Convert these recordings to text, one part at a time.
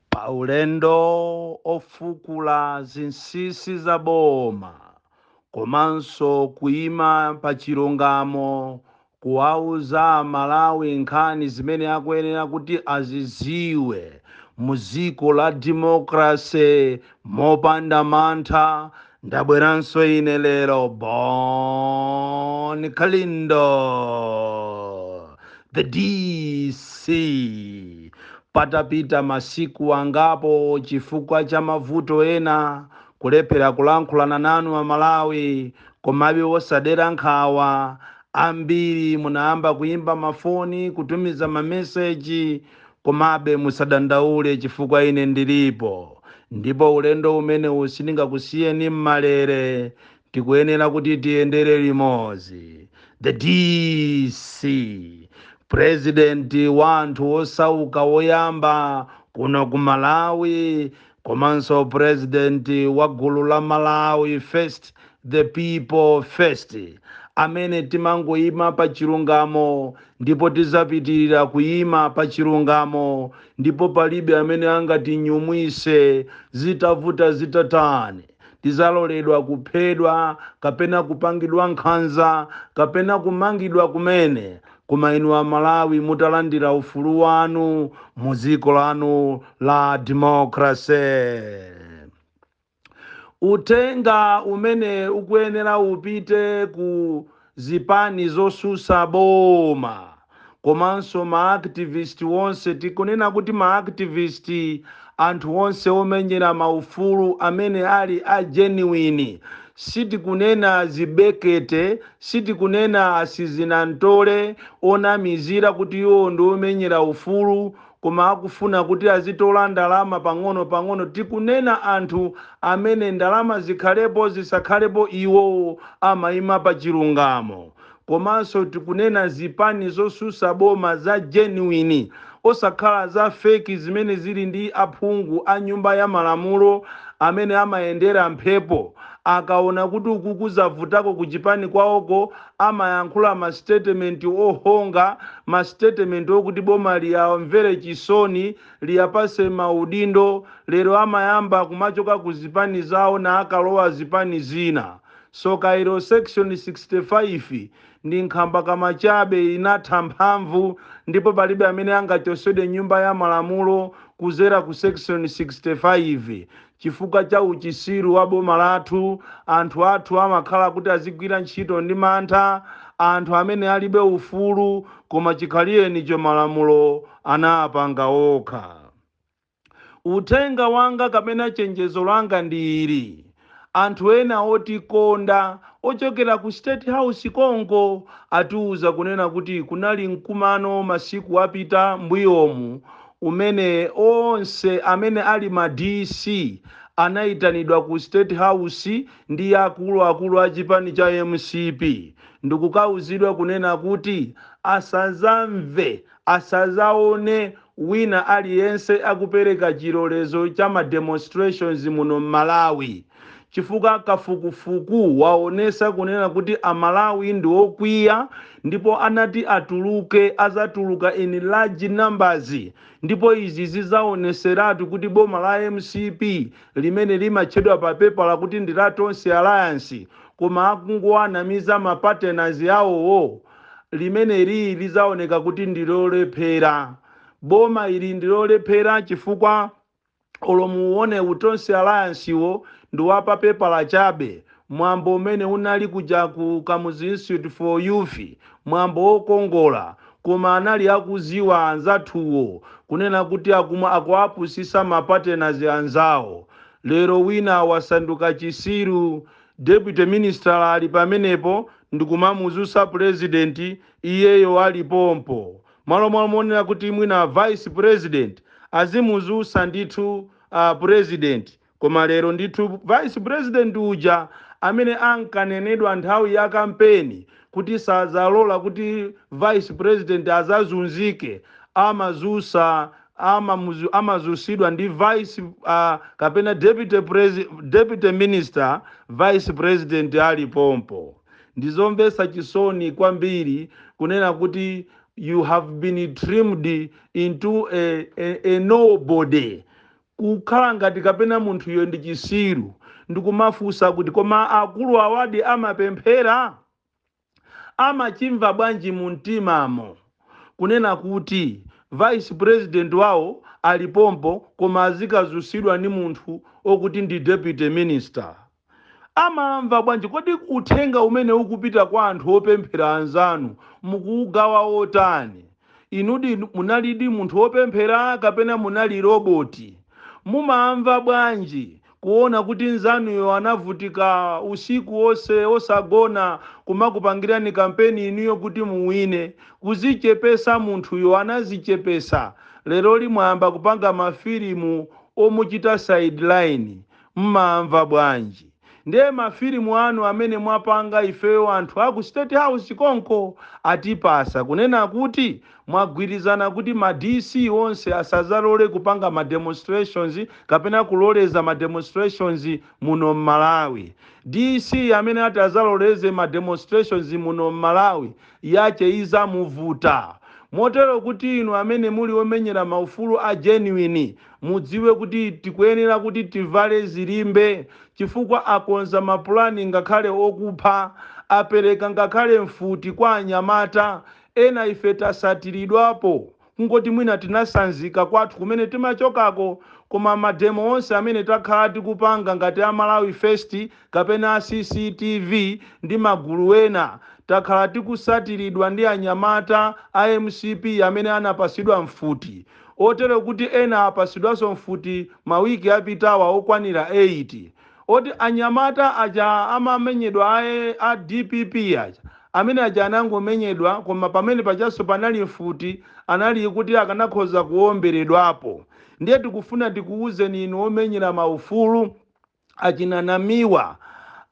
pa ulendo ofukula zinsinsi za boma komanso kuima pa chilungamo kuwauza amalawi nkhani zimene akuyenera kuti aziziwe mu dziko la democracy Mopanda mantha ndabweranso ine lero Bon Kalindo the DC patapita masiku angapo chifukwa cha mavuto ena kulephera kulankhulana nanu amalawi komabe osadera nkhawa ambiri munayamba kuyimba mafoni kutumiza mameseji Komabe musadandaule chifukwa ine ndilipo ndipo ulendo umenewu sindingakusiyeni m'malere. Tikuyenera kuti tiyendere limodzi. The DC, Purezidenti wa anthu osauka woyamba kuno ku Malawi, Komanso president wa gulu la Malawi first the people first amene timangoima pa chilungamo ndipo tizapitilira kuima pa chilungamo ndipo palibe amene angatinyumwise zitavuta zitatani. tidzaloledwa kuphedwa kapena kupangidwa nkhanza kapena kumangidwa kumene koma inu amalawi mutalandira ufulu wanu mu dziko lanu la democracy uthenga umenewu ukuyenera upite ku zipani zosusa boma komanso ma activist wonse tikunena kuti ma activist anthu wonse womenyera ma ufulu amene ali a genuine sitikunena zibekete sitikunena asizinamtole onamizira kuti iwowo ndi omenyera ufulu koma akufuna kuti azitola ndalama pang'ono pang'ono tikunena anthu amene ndalama zikhalepo zisakhalepo iwowo amaima pa chilungamo komanso tikunena zipani zosusa boma za genuine osakhala za fake zimene zili ndi aphungu a nyumba ya malamulo amene amayendera mphepo akaona kuti ukuku zavutako ku chipani kwaoko amayankhula ma statement ohonga, ma statement okuti boma liyamvere chisoni, liyapase maudindo, lero amayamba kumachoka ku zipani zawo n'kukalowa zipani zina. Tsoka ilo section 65 ndi nkhambakama chabe inatha mphamvu ndipo palibe amene angachotsedwe m'nyumba ya malamulo kuzera ku section 65. Chifukwa cha uchisiru wa boma lathu, anthu athu amakhala kuti azigwira ntchito ndi mantha, anthu amene alibe ufulu koma chikhalirecho malamulo anapanga okha. Uthenga wanga kapena chenjezo langa ndi ili, anthu ena otikonda ochokera ku state house konko atiuza kunena kuti kunali mkumano masiku apita mbuyomu umene onse amene ali ma DC anaitanidwa ku state house ndi akulu akulu a chipani cha mcp ndikukauzidwa kunena kuti asazamve, asazaone wina aliyense akupereka chilolezo cha ma demonstrations muno m'Malawi. chifukwa kafukufuku waonesa kunena kuti a Malawi ndi okwiya ndipo atati atuluke azatuluka in large numbers ndipo izi zizaoneseratu kuti boma la mcp limene limatchedwa pa pepala kuti ndi la Tonse alliance koma akungowanamiza ma partners awowo limeneli lizaoneka kuti ndi lolephera. Boma ili ndi lolephera chifukwa. Olo muwuone u Tonse Alliance wo ndi wa pa pepala chabe, mwambo umene unali kuja ku Kamuzu Institute for Youth mwambo wokongola koma anali akuziwa anzathuwo kunena kuti akuwapusisa ma partners anzawo lero wina wasanduka chisiru Deputy minister ali pamenepo ndikumamuzusa president iyeyo ali pompo Malo monena kuti mwina vice president azimuzusa ndithu president koma lero ndithu vice president uja amene ankanenedwa nthawi ya kampeni kuti sadzalola kuti vice president azazunzike amazusa amamuzu amazusidwa ndi vice a kapena deputy presi deputy minister vice president ali pompo. Ndi zomvetsa chisoni kwambiri kunena kuti you have been trimmed into a, a, a nobody kukhala ngati kapena munthu iyo ndi chisiru ndikumafunsa kuti koma akulu awadi amapemphera amachimva bwanji mu mtimamo kunena kuti vice president wawo ali pompo koma azikazusidwa ndi munthu okuti ndi deputy minister Amamva bwanji? Kodi uthenga umene ukupita kwa anthu opemphera anzanu mukuugawa otani? Inudi munalidi munthu opemphera kapena munali roboti? Mumamva bwanji kuona kuti nzanuyo anavutika usiku onse osagona kumakupangirani kampeni inuyo kuti muwine? Kuzichepesa munthuyo anazichepesa lero li mwayamba kupanga mafilimu omuchita sideline. Mumamva bwanji nde mafilimu anu amene mwapanga ifeyo anthu aku state house konko atipasa kunena kuti mwagwirizana kuti ma DC onse asazalole kupanga ma demonstrations kapena kuloleza ma demonstrations muno mmalawi DC amene ati azaloleze ma demonstrations muno mmalawi yache izamuvuta motero kuti inu amene muli omenyera maufulu a genuine Mudziwe kuti tikuyenera kuti tivale zilimbe chifukwa akonza mapulani ngakhale okupha, apereka ngakhale mfuti kwa anyamata ena ife tasatiridwapo kungoti mwina tinasanzika kwathu kumene timachokako koma mademo onse amene takhala tikupanga ngati a Malawi First kapena a CCTV ndi magulu ena takhala tikusatiridwa ndi anyamata a mcp amene anapasidwa mfuti motero kuti ena apasidwaso mfuti ma week apitawa okwanira 8 oti anyamata aja amamenyedwa a dpp aja amene aja anangomenyedwa koma pamene pajaso panali mfuti anali kuti akanakhoza kuomberedwapo ndiye tikufuna tikuuzeni inu omenyera maufulu achina Namiwa,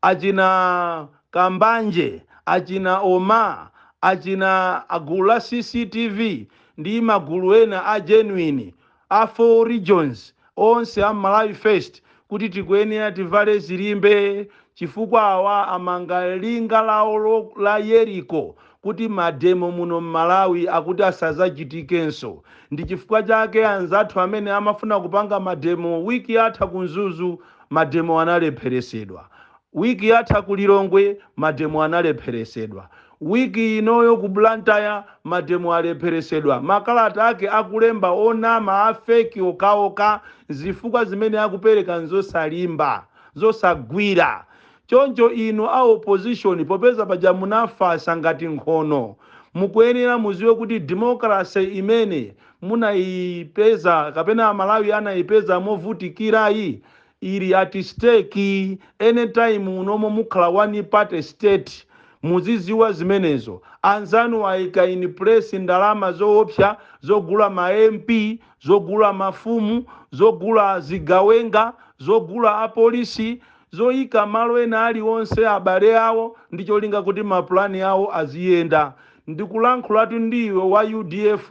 achina Kambanje, achina Omah, achina a gulu la cctv ndi magulu ena a genuine a 4 regions onse a Malawi first kuti tikuyenera tivale zilimbe chifukwa awa amanga linga lawo la Yeriko kuti mademo muno mmalawi akuti asazachitikenso ndichifukwa chake anzathu amene amafuna kupanga mademo week yatha ku mzuzu mademo analepheresedwa week yatha ku lilongwe mademo analepheresedwa week inoyo ku blantyre mademo alepheresedwa makalata ake akulemba onama a fake okaoka zifukwa zimene akupereka nzosalimba zosagwira Choncho inu a opposition popeza paja munafasa ngati nkhono mukuyenera muziwe kuti democracy imene munayipeza kapena amalawi anayipeza movutikilayi ili at stake any time unomo mukhala one party state muziziwa zimenezo anzanu ayika in place ndalama zoopsa zogula ma MP zogula mafumu zogula zigawenga zogula apolisi zoika malo ena alionse abale awo ndi cholinga kuti ma plan awo aziyenda. Ndikulankhulatu ndi iwe wa udf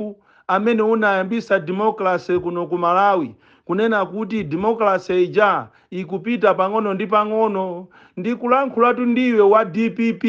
amene unayambisa democracy kuno ku Malawi kunena kuti democracy ija ikupita pang'ono ndi pang'ono. Ndikulankhulatu ndi iwe wa dpp.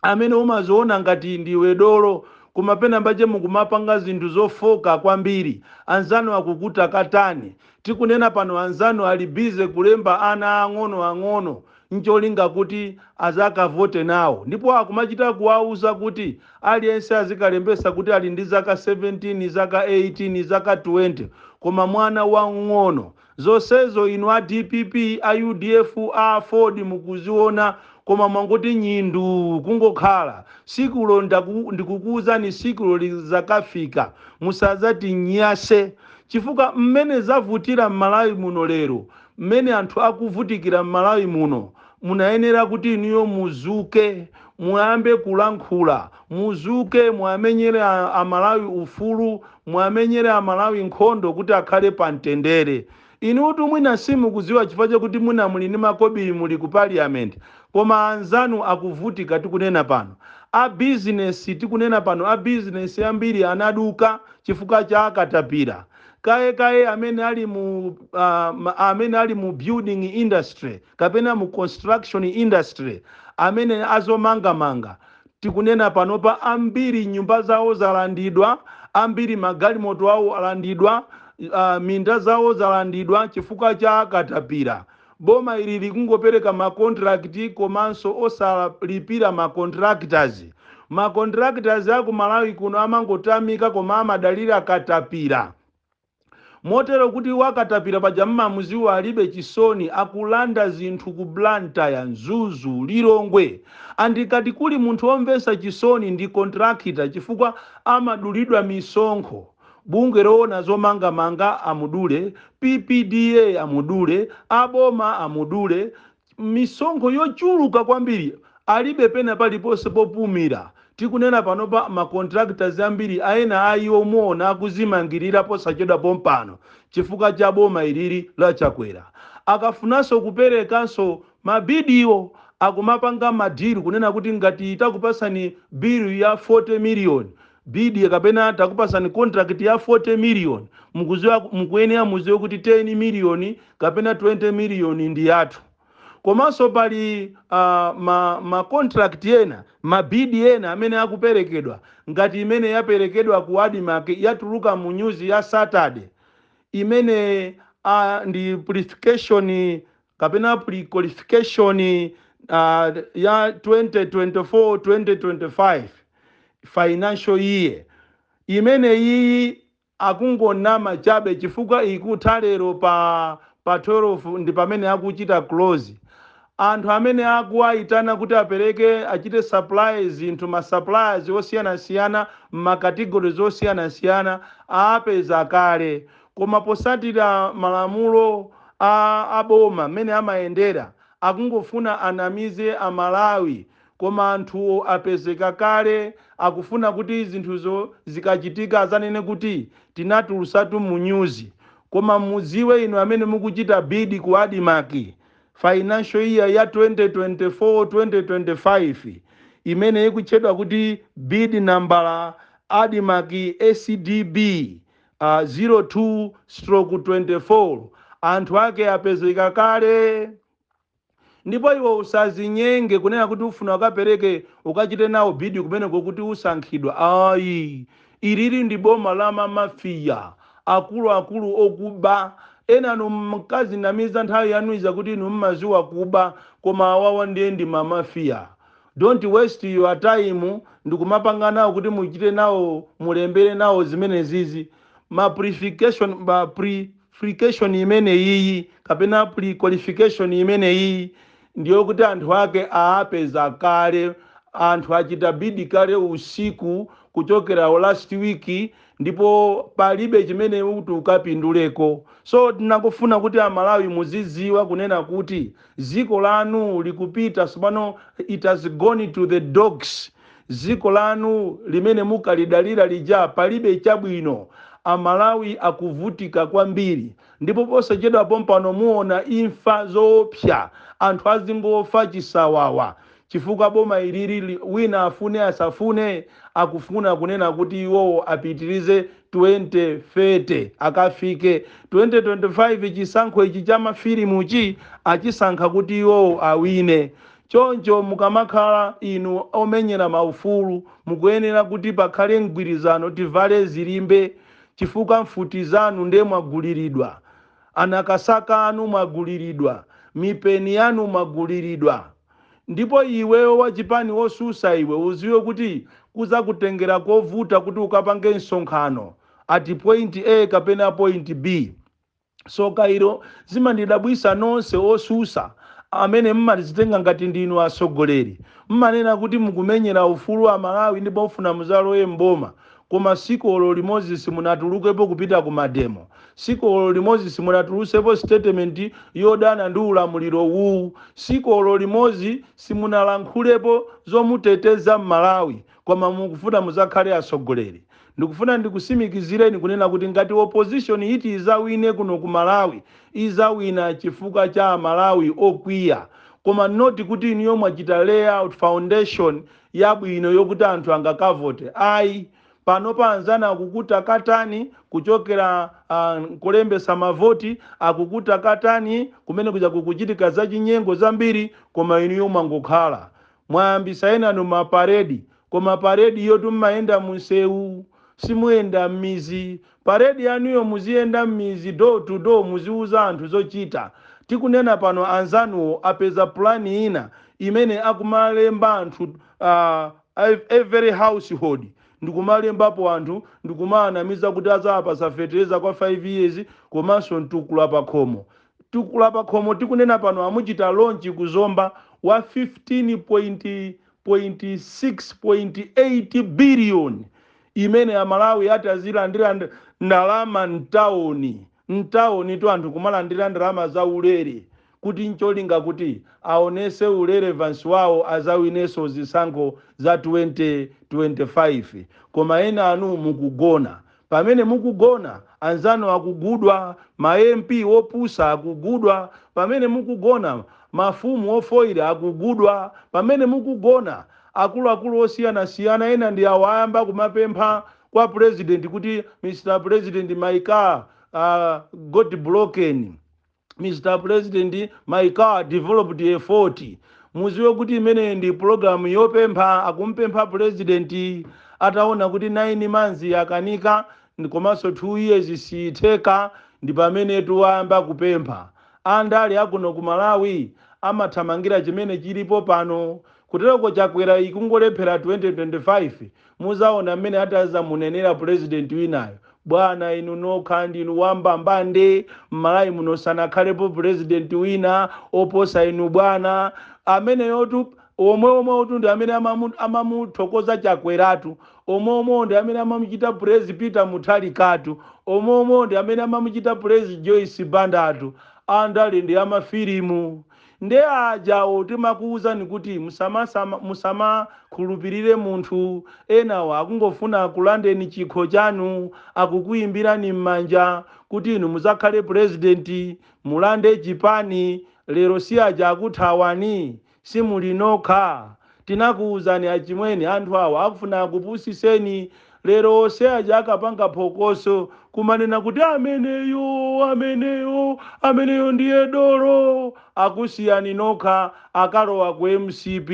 amene umaziona ngati ndiwe dolo koma penapake mukumapanga zinthu zofoka kwambiri anzanu akutakataka tikunena pano anzanu ali busy kulemba ana ang'ono ang'ono ncholinga kuti azakavote nawo ndipo akumachita kuwauza kuti aliyense azikalembesa kuti ali ndi zaka 17 zaka 18 zaka 20 koma mwana wamng'ono Zonsezo inu a dpp, a udf, a aford mukuziona koma mwangoti nyii nduu kungokhala. Siku lo ndaku ndikukuuzani siku lo lizakafika musazati nyase chifukwa mmene zavutira mmalawi muno lero mmene anthu akuvutikira mmalawi muno Munayenera kuti inuyo muzuke muyambe kulankhula, muzuke muwamenyere a a Malawi ufulu, muwamenyere a Malawi nkhondo kuti akhale pa mtendere. Inutu mwina simukuziwa chifukwa chakuti mwina muli ndi makobiri muli ku parliament koma anzanu akuvutika tikunena pano. A business tikunena pano a business ambiri anaduka chifukwa cha akatapira. kaye kaye amene ali mu uh, amene ali mu building industry kapena mu construction industry amene azomangamanga tikunena panopa ambiri nyumba zawo zalandidwa ambiri magalimoto awo alandidwa uh, minda zawo zalandidwa chifukwa cha katapira Boma ili likungopereka ma contract komanso osalipira ma contractors. Ma contractors aku Malawi kuno amangotamika koma amadalira katapira. Motero kuti wa katapira paja mmamuziwa alibe chisoni akulanda zinthu ku Blantyre, Mzuzu, Lilongwe. And kati kuli munthu omvesa chisoni ndi contractor chifukwa amadulidwa misonkho. Bungwe loona zomangamanga amudule, PPDA amudule, a boma amudule, misonkho yochuluka kwambiri, alibe pena paliponse popumira. Tikunena panopa ma contractors ambiri ena a iwo muona akuzimangirira posachedwa pompano chifukwa cha boma ilili la Chakwera. Akafunanso kuperekanso ma bid wo akumapanga ma deal kunena kuti ngati takupasani bill ya 40 million, bid kapena takupasani contract ya 40 million mukuziwa mukuyenera muziwe kuti 10 million kapena 20 million ndi yathu komanso pali uh, ma, ma contract ena mabidi ena amene akuperekedwa ngati imene yaperekedwa ku admarc yatuluka mu nyuzi ya saturday imene uh, ndi purification kapena pre-qualification uh, ya 2024-2025 financial year imeneyiyi akungonama chabe chifukwa ikutha lero pa pa 12 ndi pamene akuchita close anthu amene akuwayitana kuti apereke achite supply zinthu ma suppliers osiyanasiyana m'makategori osiyanasiyana apeza kale Koma posatira malamulo a aboma mmene amayendera akungofuna anamize a Malawi koma anthu apezeka kale akufuna kuti zinthuzo zikachitika azanene kuti tinatulusatu mu nyuzi koma mudziwe inu amene mukuchita bid ku Admarc financial year ya 2024 2025 imene ikutchedwa kuti bid nambala Admarc, ACDB, a 0 2 stroke 24 anthu ake apezeka kale ndipo iwe usazinyenge kunena kuti ufuna ukapereke ukachite nawo bidi kumeneko kuti usankhidwa ayi ilili ndi boma la mamafiya akuluakulu okuba enanu mkadzinamiza nthawi yanu ija kuti inu mmaziwa kuba koma awawa ndiye ndi mamafiya Don't waste your time ndikumapanga nawo kuti muchite nawo mulembere nawo zimenezizi ma purification ma purification imeneyiyi kapena pre qualification imeneyiyi ndiyokuti anthu ake aapeza kale anthu achita bid kale usiku kuchokera last week ndipo palibe chimene kuti ukapinduleko so tinangofuna kuti amalawi muziziwa kunena kuti Dziko lanu likupita tsopano, it has gone to the dogs. Dziko lanu limene mukalidalira lija palibe chabwino. A Malawi akuvutika kwambiri ndipo posachedwa pompano muona imfa zoopsa, anthu azingofa chisawawa chifukwa boma ilili wina afune asafune akufuna kunena kuti iwowo apitilize 2030 akafike 2025 chisankho ichi cha mafilimuchi achisankha kuti iwowo awine choncho mukamakhala inu omenyera ma ufulu mukuyenera kuti pakhale mgwirizano tivale zilimbe chifukwa mfuti zanu nde mwagulilidwa anakasaka anu mwagulilidwa mipeni yanu mwagulilidwa Ndipo iweyo wachipani wosusa iwe uziwe kuti kuzakutengera kovuta kuti ukapange nsonkhano at point A kapena point B. So kayalo zimandidabwisa nonse osusa amene mmadzitenga ngati ndinu atsogoleri mmanena kuti mukumenyela ufulu wa aMalawi ndipo mfuna muzalowe m'boma Koma siku olo limodzi simunatulukepo kupita ku mademo, siku olo limodzi simunatulutsepo statement yodana ndi ulamuliro uwuwu, siku olo limodzi simunalankhulepo zomuteteza M'malawi, koma mukufuna mudzakhale atsogoleri. Ndikufuna ndikusimikizireni kunena kuti ngati opposition yiti izawine kuno ku Malawi, izawina chifukwa cha a Malawi okwiya koma not kuti inuyo mwachita layout foundation yabwino yokuti anthu angakavote ayi. Panopa anzanu akukutakatani kuchokera uh, kulembesa mavoti akukutakatani kumene kuzakhale kukuchitika zachinyengo zambiri, koma inuyo mwangokhala mwayambisa enanu maparedi, koma paredi yotu mmayenda munsewu simuyenda mmizi. Parade yanuyo muziyenda mmizi door to door muziuza anthu zochita. Tikunena pano anzanuwo apeza plan ina imene akumalemba anthu every household ndikumalembapo anthu ndikumawanamiza kuti adzawapatsa fetereza kwa 5 years komanso mtukula pakhomo. Mtukula pakhomo tikunena pano amuchita launch ku Zomba wa 15 point 6.8 billion imene a Malawi atazilandira nd, ndalama mtaoni, mtaonitu anthu kumalandira ndalama za ulere kuti ncholinga kuti aonese u relevance wawo azawineso zisankho za 2025 koma enanu mukugona Pamene mukugona, anzanu akugulidwa, ma MP opusa akugulidwa, pamene mukugona, mafumu ofoira akugulidwa, pamene mukugona, akuluakulu osiyanasiyana ena ndi awa ayamba kumapempha kwa Pulezidenti kuti Mr Pulezidenti my car uh, got broken. Mr president my car developed a fault muziwe kuti imeneyi ndi program yopempha akumpempha president ataona kuti 9 months yakanika ndi- komanso 2 years siitheka ndi pamenetu ayamba kupempha andale akuno ku malawi amathamangira chimene chilipo pano kuteroko chakwera ikungolephera 2025 Muzaona mmene atazamunenera president winayo. Bwana inu nokha ndinu wa mbambande mmalawi muno sanakhalepo president wina oposa inu bwana. Ameneyotu omweomwewotu ndi amene amamu amamuthokoza chakweratu. Omweomwewo ndi amene amamuchita praise peter mutharikatu. Omweomwewo ndi amene amamuchita praise joyce bandatu. Andale ndi amafilimu. Nde ajawo timakuuzani kuti musamasama musamakhulupilire munthu enawa akungofuna akulandeni chikho chanu akukuimbirani mmanja kuti inu muzakhale president mulande chipani lero siaja akuthawani simuli nokha Tinakuuzani achimwene anthu awa akufuna akupusiseni lero onse aja ankapanga phokoso kumanena kuti ameneyo ameneyo ameneyo ndiye dolo akusiyani nokha akalowa ku mcp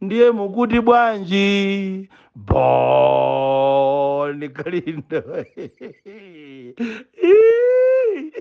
ndiye mukuti bwanji bon kalindo Iiii.